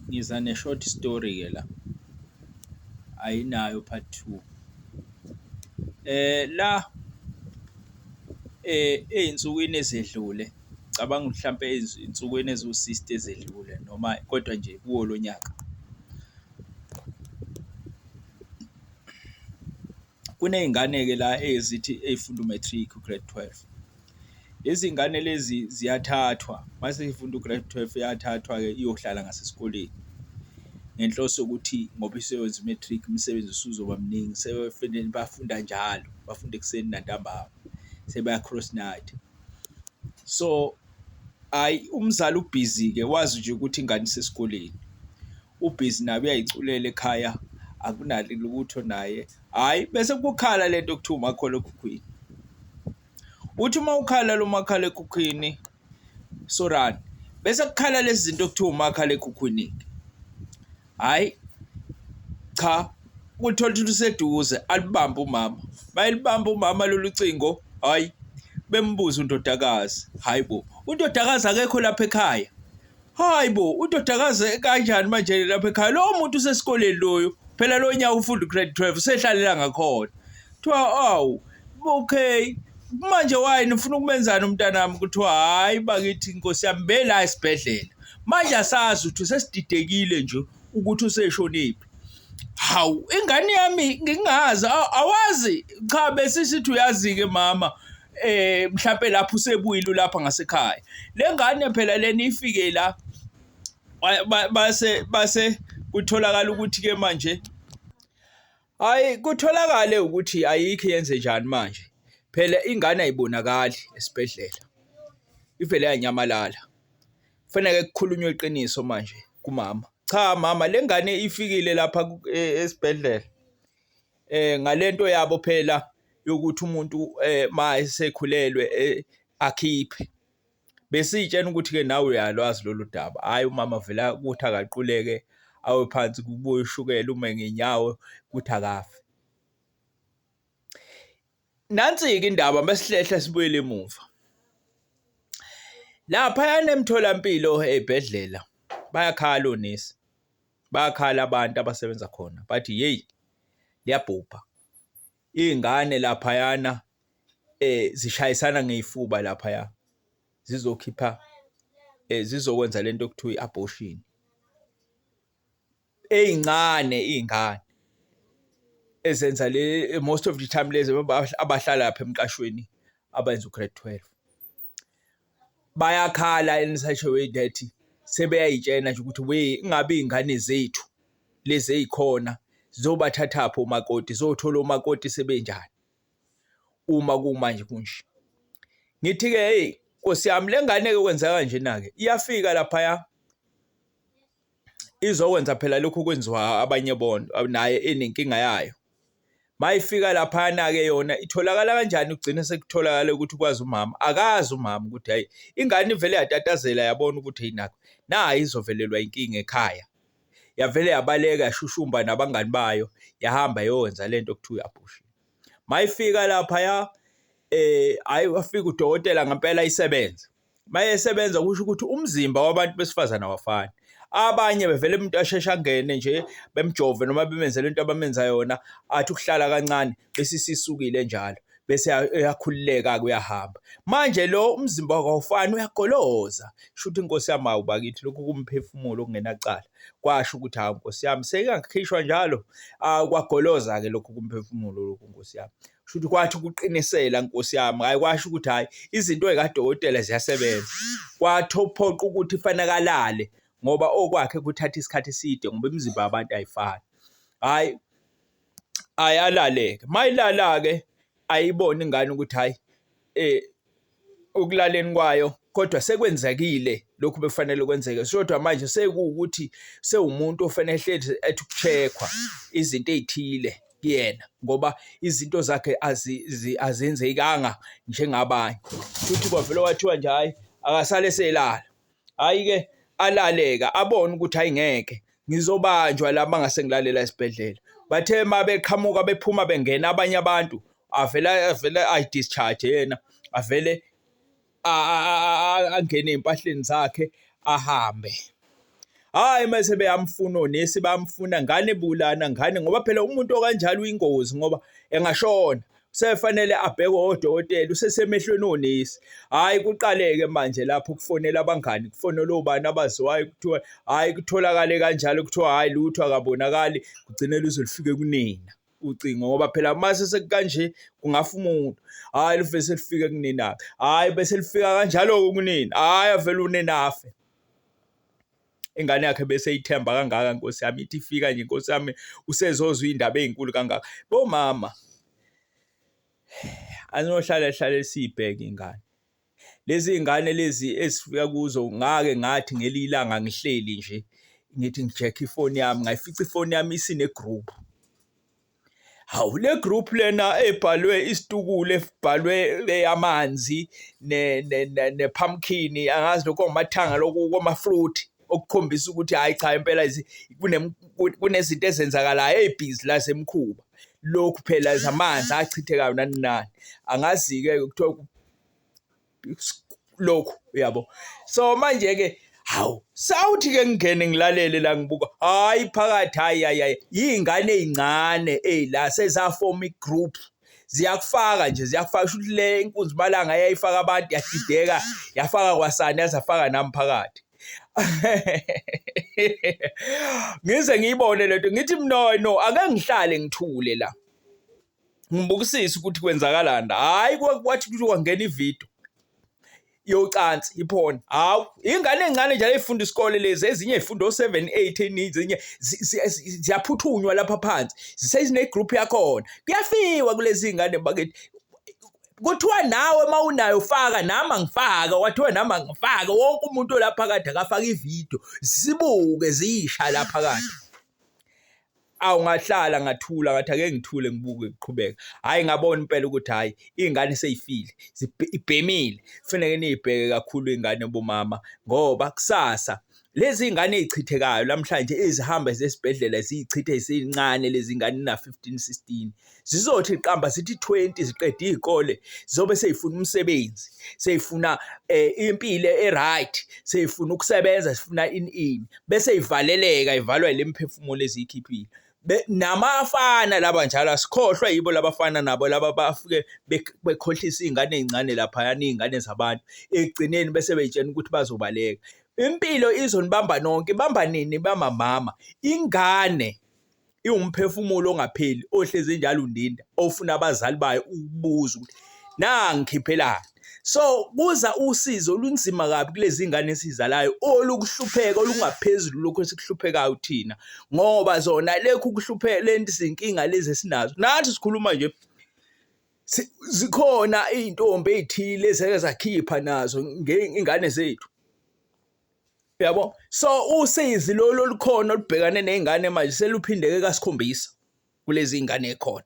ngiza ne-short story ke la ayinayo part two eh la eh ezinsukwini ezedlule cabanga mhlampe ezinsukwini eziwu-60 ezedlule noma kodwa nje kuwo lo nyaka Kuney'ngane-ke la ezithi ey'funda u-matric u-grade twelve. Lezi ngane lezi ziyathathwa uma seyifunda u-grade twelve iyathathwa-ke iyohlala ngasesikoleni ngenhloso yokuthi ngoba iseyowenza u-matric umsebenzi usuzoba mningi sebefanele bafunda njalo, bafunda ekuseni nantambama sebaya-cross night. So, hhayi umzali ubhizi-ke wazi nje ukuthi ingane isesikoleni. Ubhizi naye uyayiculela ekhaya akunali lutho naye. Hhayi bese kukhala le nto okuthiwa umakhalekhukhwini. Uthi uma ukhala lo makhalekhukhwini sorani bese kukhala lezi zinto okuthiwa umakhalekhukhwini-ke. Hhayi cha uthola ukuthi useduze alibambe umama. Uma elibambe umama lolu cingo hhayi bembuze undodakazi hhayi bo undodakazi akekho lapha ekhaya hayi bo udodakaze kanjani manje lapha ekhaya lowo muntu usesikoleni loyo phela lo nyaka ufunda ugrade 12 usehlalela ngakhona kuthiwa awu okay manje wayi nifuna ukumenzani umntanami kuthiwa hhayi bakithi nkosi yami bela esibhedlela manje asazi ukuthi sesididekile nje ukuthi useshoniphi hawu ingane yami ngingazi awazi cha besisithi uyazi-ke mama eh mhlawumbe lapho usebuyile lapha ngasekhaya lengane phela leni ifike la base base kutholakala ukuthi ke manje hayi kutholakale ukuthi ayikho yenze njani manje phela ingane ayibonakali esibhedlela ivele yanyamalala kufanele kukhulunywe iqiniso manje kumama cha mama lengane ifikile lapha e, esibhedlela eh ngalento yabo phela yokuthi umuntu eh mayesekhulelwe eh, akhiphe besitshena ukuthi ke nawe uyalwazi lolu daba hayi umama vela ukuthi akaquleke awe phansi kubuye ushukela ume ngenyawo ukuthi akafe Nansi-ke indaba mesihlehla sibuyele emuva. Laphayana emtholampilo ey'bhedlela bayakhala onesi, bayakhala abantu abasebenza khona bathi yeyi liyabhubha. Iy'ngane laphayana um zishayisana ngey'fuba laphaya zizokhipha um zizokwenza le nto okuthiwa i-abortion. ezincane izingane ezenza le most of the time lezi abahlala lapha emqashweni abenza ugrade 12 bayakhala in such a way that sebeyayitshena nje ukuthi we ingabe izingane zethu lezi ezikhona zizobathathaphi omakoti zothola omakoti sebenjani uma kumanje kunje ngithi ke hey Nkosi yami lengane ke kwenzeka nje nake iyafika lapha ya izokwenza phela lokhu okwenziwa abanye bonto naye enenkinga yayo. Mayifika laphayana-ke yona itholakala kanjani kugcine sekutholakala ukuthi kwazi umama akazi umama ukuthi hhayi ingane ivele yatatazela yabona ukuthi hhayi nakho nayi izovelelwa inkinga ekhaya yavele yabaleka yashushumba nabangani bayo yahamba yokwenza le nto kuthiwa uyaphushiwe mayifika laphaya um hhayi wafika udokotela ngempela isebenze mayesebenza kusho ukuthi umzimba wabantu besifazane awafani abanye bevele umuntu asheshe angene nje bemjove noma bemenzele into abamenza yona athi ukuhlala kancane bese sisukile njalo bese uyakhululeka kuyahamba manje lo umzimba wakho awufani uyagoloza shuthi inkosi yami awu bakithi lokhu kumphefumulo kungenacala kwasho ukuthi hawu nkosi yami sekangikhishwa njalo kwagoloza ke lokhu kumphefumulo lokhu nkosi yami shuthi kwathi ukuqinisela nkosi yami hayi kwasho ukuthi hayi izinto ezikadokotela ziyasebenza kwathophoqa ukuthi fanakalale ngoba okwakhe kuthatha isikhathi eside ngoba imizimba yabantu ayifani hayi ayalaleke mayilalake ayibona ingane ukuthi hayi eh ekulaleni kwayo kodwa sekwenzekile lokhu bekufanele kwenzeke sodwa manje sekuwukuthi sewumuntu ofanele hlezi ethi ukuchekhwa izinto ezithile kuyena ngoba izinto zakhe azenzekanga njengabanye futhi kwavele wathiwa nje hayi akasale selala Hhayi ke alaleka abone ukuthi hayi ngeke ngizobanjwa la mangase ngilalela esibhedlela. Bathe uma beqhamuka bephuma bengena abanye abantu avele avele ayi-discharge yena avele angene ey'mpahleni zakhe ahambe. Hhayi uma sebeyamfuna onesi bayamfuna ngane bulana ngane ngoba phela umuntu okanjalo uyingozi ngoba engashona. sefanele abhekwe odokotela usesemehlweni onesi hhayi kuqaleke manje lapho kufonela abangani kufonela obani abaziwayo kuthiwa hhayi kutholakale kanjalo kuthiwa hhayi lutho akabonakali kugcine luze lufike kunina ucingo ngoba phela mase sekukanje kungafa umuntu hhayi luve selifike kunina-ke hhayi bese lifika kanjalo-ke kunina hhayi avele unina afe ingane yakhe bese ithemba kangaka nkosi yami ithi ifika nje nkosi yami usezozwa indaba ezinkulu kangaka bomama anohlala hlale sibheke ingane lezi ngane lezi esifika kuzo ngake ngathi ngelilanga ngihleli nje ngithi ngijekhe ifoni yami ngayifica ifoni yami isine group Hawu le group lena ebhalwe isitukulu ebhalwe eyamanzi ne ne ne pumpkin angazi lokho ngamathanga lokho koma fruit okukhombisa ukuthi hayi cha impela kunezinto ezenzakalayo ezibhizi la semkhuba lokhu phela zamanzi achithekayo nani nani angazi-ke kuthiwa lokhu uyabo so manje ke hawu sawuthi ke ngingene ngilalele la ngibuka hayi phakathi hayi hayi yingane ezincane ey la sezafoma igroup ziyakufaka nje ziyakufaka shuthi le inkunzi malanga yayifaka abantu yadideka yafaka kwasani yazafaka nami phakathi ngize ngiyibone lento ngithi mno no ake ngihlale ngithule la ngibukisise ukuthi kwenzakalani hayi kwathi ukuthi kwangena ividiyo yocansi iphone hawu ingane encane njalo ifunda isikole lezi ezinye ifunda o7 8 eninzi enye ziyaphuthunywa lapha phansi zisezine group yakhona kuyafiwa kulezi ingane bakithi kuthiwa nawe uma unayo faka nami angifaka wathiwa nami angifaka wonke umuntu olapha kade akafaka ividiyo zibuke ziyisha lapha kade awu ngahlala ngathula ngathi ake ngithule ngibuke kuqhubeka hhayi ngabona impela ukuthi hhayi iy'ngane seyifile ibhemile kufuneke niyibheke kakhulu iy'ngane bomama ngoba kusasa lezi ngane ezichithekayo namhlanje ezihamba zesibhedlela ziyichithe zincane lezi ngane na 15 16 zizothi qamba zithi 20 ziqede izikole zobe seyifuna umsebenzi seyifuna eh, impilo eright seyifuna ukusebenza sifuna in in bese ivaleleka ivalwa ilemphefumulo ezikhiphile namafana laba njalo asikhohlwa yibo labafana nabo laba bafike bekhohlisa izingane ezincane lapha yani izingane zabantu ekugcineni bese beyitshena ukuthi bazobaleka impilo izonibamba nonke ibamba nini bamamama ingane iwumphefumulo ongapheli ohlezi njalo undinda ofuna abazali bayo ukubuza ukuthi nangikhiphelani so kuza usizo olunzima kabi kulezi ngane esizalayo olukuhlupheka olungaphezulu lokho esikuhluphekayo thina ngoba zona lekho ukuhlupheka lento izinkinga lezi esinazo nathi sikhuluma nje zikhona izintombi ezithile ezake zakhipha nazo ngengane zethu yabo so usizi lolu olukhona olubhekane nezingane manje seluphindeke kasikhombisa kulezi zingane ekhona